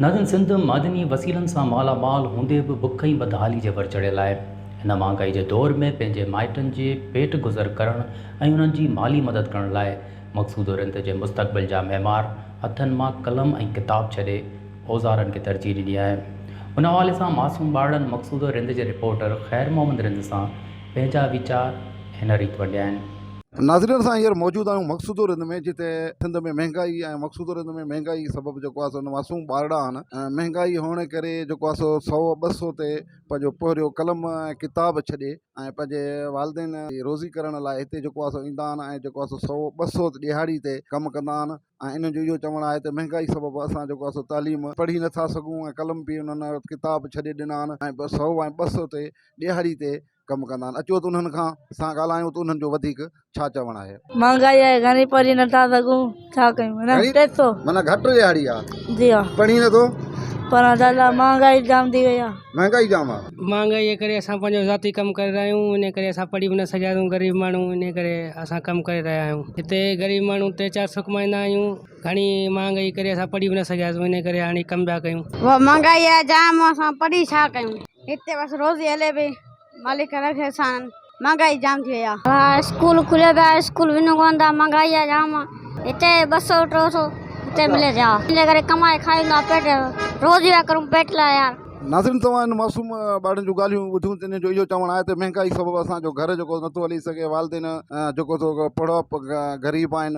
ناظرين سنڌ معدني وسيلن سان مالا مال هوندي به بک ۽ بدحالي جي ڀر چڙهيل آهي. هن مهانگائي جي دور ۾ پنهنجي مائٽن جي پيٽ گذر ڪرڻ ۽ انهن جي مالي مدد ڪرڻ لاء مقصوده رند جي مستقبل جا معمار هٿن مان قلم ۽ ڪتاب ڇڏي اوزارن کي ترجيح ڏني آهي. ان حوالي سان معصوم ٻارڙن مقصوده رند جي رپورٽر خير محمد رند سان پنهنجا ويچار هن ريت ونڊيا آهن. ناظرين اسان هينئر موجود آهيون مقصوده رند ۾ جتي سنڌ ۾ مهنگائي ۽ مقصوده رند ۾ مهنگائي سبب جيڪو آهي سو معصوم ٻارڙا آهن مهنگائي هئڻ جي ڪري جيڪو آهي سو سؤ ٻه سؤ تي پنهنجو پهريون قلم ۽ ڪتاب ڇڏي ۽ پنهنجي والدين جي روزي ڪرڻ لاء هتي جيڪو آهي سو ايندا آهن ۽ جيڪو آهي سو سؤ ٻه سؤ ڏهاڙي تي ڪم ڪندا آهن. ۽ انهن جو اهو چوڻ آهي ته مهنگائي سبب اسان جيڪو آهي سو تعليم پڙهي نه ٿا سگهون ۽ قلم به انهن ڪتاب ڇڏي ڏنا آهن ۽ بس سو ۽ ٻه سو تي ڏيهاڙي تي ڪم ڪندا آهن اچو ته انهن کان سان ڳالهايون ته انهن جو وڌيڪ ڇا چوڻ آهي. مهانگائي آهي گهڻي پڙهي نه ٿا سگهون ڇا ڪيون نه ٽي سو معنيٰ گهٽ ڏيهاڙي آهي جي ها پڙهي نه ٿو پڙهڻ لاء مهانگائي جام ٿي وئي آهي. مهانگائي جام آ. مهانگائي جي ڪري اسان پنهنجو ذاتي ڪم ڪري رهيا آهيون انهي ڪري اسان پڙهي به نه سگهيا آهيون غريب ماڻهو انهي ڪري اسان ڪم ڪري رهيا آهيون هتي غريب ماڻهو ٽي چار سو ڪمائيندا آهيون گهڻي مهانگائي ڪري اسان پڙهي به نه سگهيا آهيون انهي ڪري هاڻي ڪم پيا ڪيون. مهانگائي آهي جام اسان پڙهي ڇا ڪيون هتي بس روزي هلي پئي. مالڪ رحه احسان مھانگائي جام ٿي وئي آ. اسڪول کليو پيا اسڪول وڃون ڪون ٿا مھانگائي آ جام ھتي ٻه سئو ٽو سئو ھتي ملي ٿي آ ان ڪري ڪمائي کائون ٿا پيٽ روزي پيا ڪرون پيٽ لاء يار. ناظرين توھان ھن معصوم ٻارڙي جون ڳالھيون ٻڌيون تنھن جو اھو چوڻ آھي ته مھانگائي سبب اسان جو گھر جيڪو نٿو ھلي سگھي والدين جيڪو سو پڙھپ غريب آھن